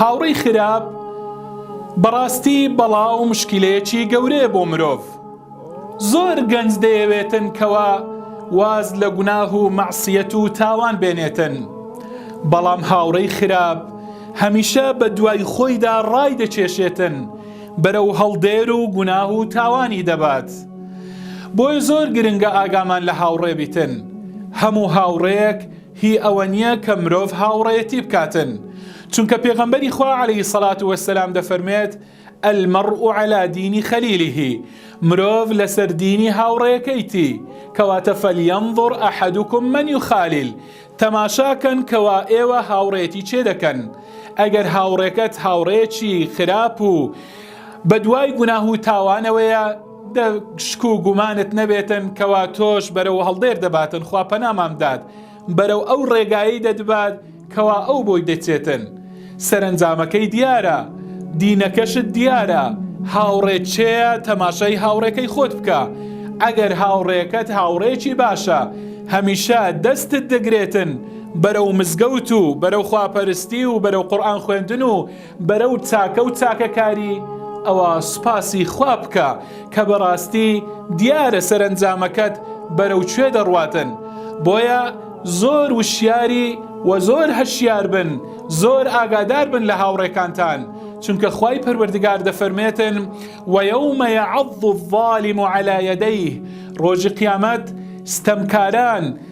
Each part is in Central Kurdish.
هاوڕی خراپ بەڕاستی بەڵا و مشکلەیەکی گەورەیە بۆ مرۆڤ زۆر گەنج دەیەوێتن کەوا واز لە گوناه و مەعسیەت و تاوان بێنێتن بەڵام هاوڕی خراپ هەمیشە بە دوای خۆیدا ڕای دەکێشێتن بەرە و هەڵدێر و گوناه و تاوانی دەبات بۆی زۆر گرنگە ئاگامان لە هاوڕێ بیتن هەموو هاوڕێیەک هی ئەوەنیە کە مرۆڤ هاوڕێیەتی بکاتن چونکە پێغەمبەری خوا علیە سەلات وەسەلام دەفەرمێت المەڕ و علا دینی خەلیلیهی مرۆڤ لەسەر دینی هاوڕێەکەیتی کەواتە فەلیەنظڕ ئەحدکم من و خالیل تەماشاکەن کەوا ئێوە هاوڕێتی چێ دەکەن ئەگەر هاوڕێکەت هاوڕێکی خراپ و بەدوای گوناه و تاوانەوەیە دە شک و گومانت نەبێتن کەوا تۆش بەرەو هەڵدێر دەباتن خوا پەنامان بدات بەرەو ئەو ڕێگایی دەدبات کەوا ئەو بۆی دەچێتن سەرنجامەکەی دیارە دینەکەشت دیارە هاوڕێ چێە تەماشای هاوڕێکەی خۆت بکە ئەگەر هاوڕێکەت هاوڕێکی باشە هەمیشە دەستت دەگرێتن بەرەو مزگەوت و بەرەو خواپەرستی و بەرەو قورآن خوێندن و بەرەو چاکە و چاکەکاری ئەوا سوپاسی خوا بکە کە بەڕاستی دیارە سەرەنجامەکەت بەرەو کوێ دەڕواتن بۆیە زۆر وشیاری وە زۆر هەشیار بن زۆر ئاگادار بن لە هاوڕێکانتان چونکە خوای پەروەردگار دەفەرمێتن وە یەومە یەعەض الظالم علی یدیه ڕۆژی قیامەت ستەمکاران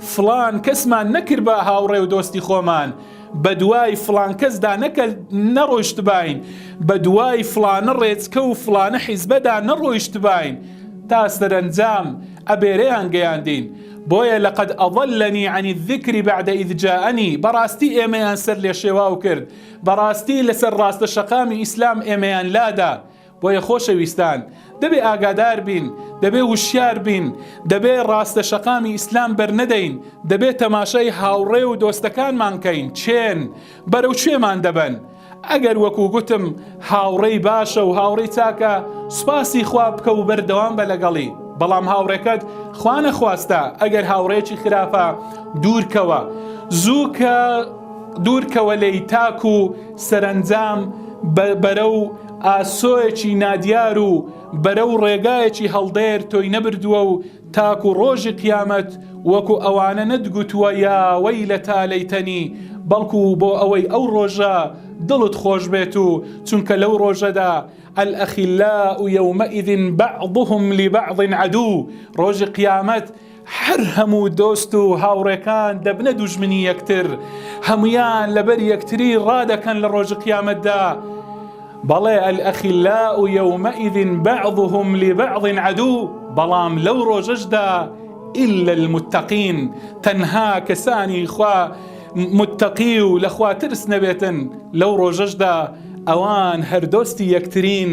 فڵان کەسمان نەکردبا هاوڕێ و دۆستی خۆمان، بە دوای فڵان کەسدا نەڕۆیشتباین، بە دوای فڵانە ڕێچکە و فڵانە حیزبەدا نەڕۆیشتباین، تا سەرەنجام ئەبێرەیان گەیاندین، بۆیە لقد اضلنی عن الذکر بعد اذ جاءنی، بەڕاستی ئێمەیان سەرلێشێواو کرد، بەڕاستی لەسەر ڕاستە شەقامی ئیسلام ئێمەیان لادا، بۆیە خۆشەویستان دەبێ ئاگادار بین، دەبێ وشیار بین، دەبێ ڕاستە شەقامی ئیسلام بەرنەدەین، دەبێ تەماشای هاوڕێ و دۆستەکانمان کەین چێن، بەرەو کوێمان دەبەن. ئەگەر وەکو گوتم هاوڕێی باشە و هاوڕێی چاکە سوپاسی خوا بکە و بەردەوام بە لەگەڵی، بەڵام هاوڕێکەت خوا نەخواستە ئەگەر هاوڕێیەکی خراپە دوور کەوە، زووکە دوور کەوە لێی تاکو سەرەنجام بەرەو. ئاسۆیەکی نادیار و بەرەو ڕێگایەکی هەڵدێر تۆی نەبردووە و تاکو ڕۆژی قیامەت وەکو ئەوانە نەتگوتووە یا وەیلەتا لەیتەنی بەڵکو بۆ ئەوەی ئەو ڕۆژە دڵت خۆش بێت و چونکە لەو ڕۆژەدا الأخلاء یومئذ بعضهم لبعض عدو ڕۆژی قیامەت هەر هەموو دۆست و هاوڕێکان دەبنە دوژمنی یەکتر هەمویان لەبەر یەکتری ڕادەکەن لە ڕۆژ قیامەتدا بەڵێ ئەلئەخیلا و یومەئیدین بەعضهم لبعض عدو بەڵام لەو ڕۆژەشدا إلا المتقین تەنها کەسانی خوا متقی و لەخوا ترس نەبێتن لەو ڕۆژەشدا ئەوان هەردۆستی یەکترین